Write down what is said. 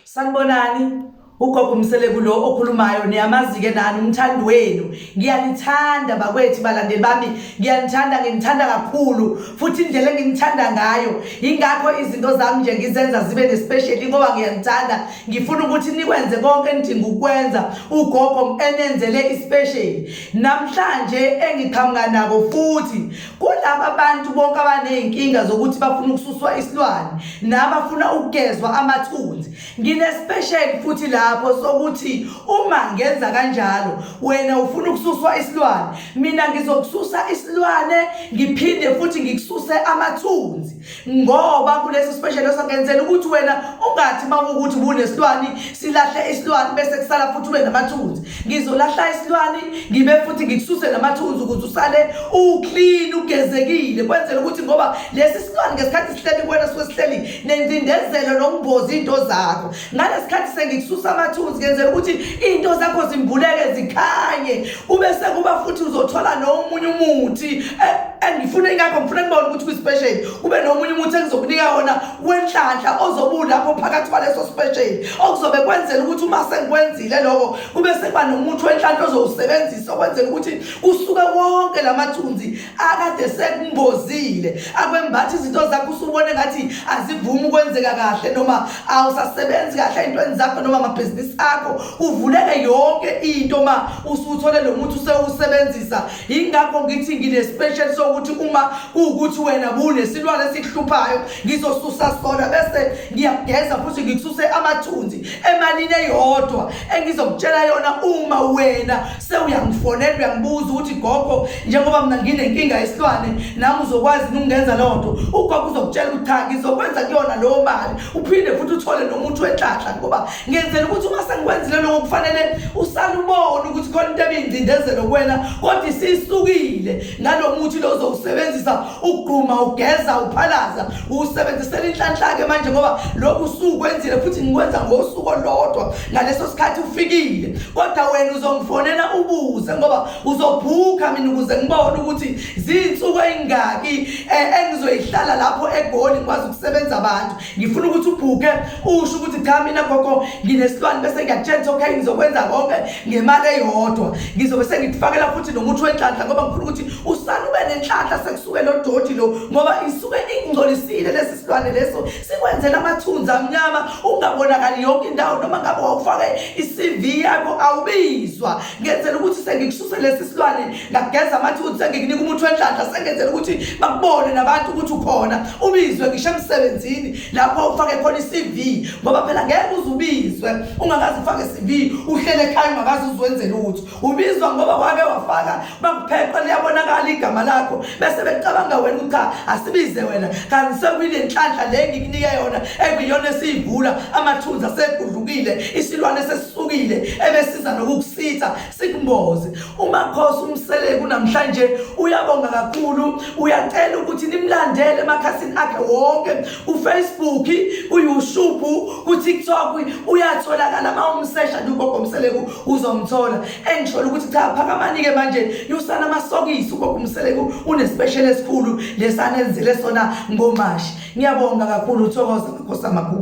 sanibonani ugogo umseleku lo okhulumayo niyamazi-ke nani umthandi wenu ngiyanithanda bakwethu balandeli bami ngiyanithanda nginithanda kakhulu futhi indlela enginithanda ngayo yingakho izinto zami nje ngizenza zibe nespeciali ngoba ngiyanithanda ngifuna ukuthi nikwenze konke enidinga ukwenza ugogo enenzele isipesheli namhlanje engiqhamuka nako futhi kulaba bantu bonke abaney'nkinga zokuthi bafuna ukususwa isilwane nabafuna ukugezwa amathunzi nginesipesheli futhi lapho sokuthi uma ngenza kanjalo wena ufuna ukususwa isilwane mina ngizokususa isilwane ngiphinde futhi ngikususe amathunzi ngoba kuleso special osakenzela ukuthi wena ungathi uma ukuthi bunesilwane silahle isilwane bese kusala futhi ube namathunzi ngizolahla isilwane ngibe futhi ngikususe namathunzi ukuze usale uclean ugezekile kwenzela ukuthi ngoba lesi silwane ngesikhathi sihleli kuwena suke sihleli nendindezelo nokumboza into zakho ngalesikhathi sengikususa amathunzi ngenzela ukuthi into zakho zimbuleke zikhanye kube sekuba futhi uzothola nomunye umuthi eh, eh, ngifuna ingakho ngifuna ngibone ukuthi kwi-special kube nomunye umuthi engizokunika wona wenhlanhla ozobuwu lapho phakathi kwaleso special okuzobe kwenzela ukuthi uma sengikwenzile loko kube sekuba nomuthi wenhlanhla ozowusebenzisa okwenzela ukuthi kusuke wonke la mathunzi akade sekumbozile akwembathi izinto zakho usubone ngathi azivumi ukwenzeka kahle noma awusasebenzi kahle ey'ntweni zakho noma amabhizinisi akho uvuleke yonke into ma usuthole lo muthi usewusebenzisa yingakho ngithi ngine-special sokuthi uma kuwukuthi wena bunesilwane esikuhluphayo ngizosusa sona bese ngiyakugeza futhi ngikususe amathunzi emalini eyodwa engizokutshela yona uma wena sewuyangifonela uyangibuza ukuthi gogo njengoba mina nginenkinga yesilwane nami uzokwazi ukungenza loo nto ugogo uzokutshela ukuthi cha ngizokwenza kuyona leyo mali uphinde futhi uthole nomuthi wenhlanhla ngoba ngenzela ukuthi uma sengikwenzile loko kufanele usale ubone ukuthi khona into ebingcindezelo kuwena kodwa isisukile ngalo muthi lo uzowusebenzisa ukugquma ugeza uphalaza uwusebenzisela inhlanhla-ke manje ngoba lokhu usukwenzile futhi ngikwenza ngosuku olodwa ngaleso sikhathi ufikile kodwa wena uzongifonela ubuze ngoba uzobhuka mina ukuze ngibone ukuthi zinsuku ezingaki eh, engizoyihlala lapho egoli ngikwazi ukusebenza abantu ngifuna ukuthi ubhuke usho ukuthi cha mina gogo nginesilwane bese ngiyakutshela okay ngizokwenza konke ngemali eyodwa ngizobe sengikufakela futhi nomuthi wenhlanhla ngoba ngifuna ukuthi usana ube nenhlanhla sekusuke lo doti lo ngoba isuke ingcolisile lesi silwane leso sikwenzela amathunzi amnyama ungabonakali yonke indawo noma ngabe wawufake i-cv yakho awubizwa ngenzela ukuthi sengikususe lesi silwane ngageza amathunzi sengikunika umuthi wenhlanhla sengenzela ukuthi bakubone nabantu ukuthi ukhona ubizwe ngisho emsebenzini lapho ufake khona i-cv ngoba phela ngeke uze ubizwe ungakazi ufake i-cv uhlele ekhaya ungakazi uzwenze lutho ubizwa ngoba wake wafaka bakupheqa liyabonakala igama lakho bese becabanga wena ukuthi cha asibize wena kanti sekuyile nhlanhla le ngikunike yona ekuyona esiyivula amathunzi asegudlukile isilwane sesisukile ebesiza nokukusitha sikumboze umakhosi umseleku namhlanje uyabonga kakhulu uyacela ukuthi nimlandele emakhasini akhe wonke ufacebook uyoutube kutiktok uyatholakala uma umsesha nje ugogo mseleku uzomthola engisholo ukuthi cha phakamanike manje yusana amasokisi ukokumseleko unespecial esikhulu lesana enzile sona ngomashi ngiyabonga kakhulu uthokoza makhosi amakhulu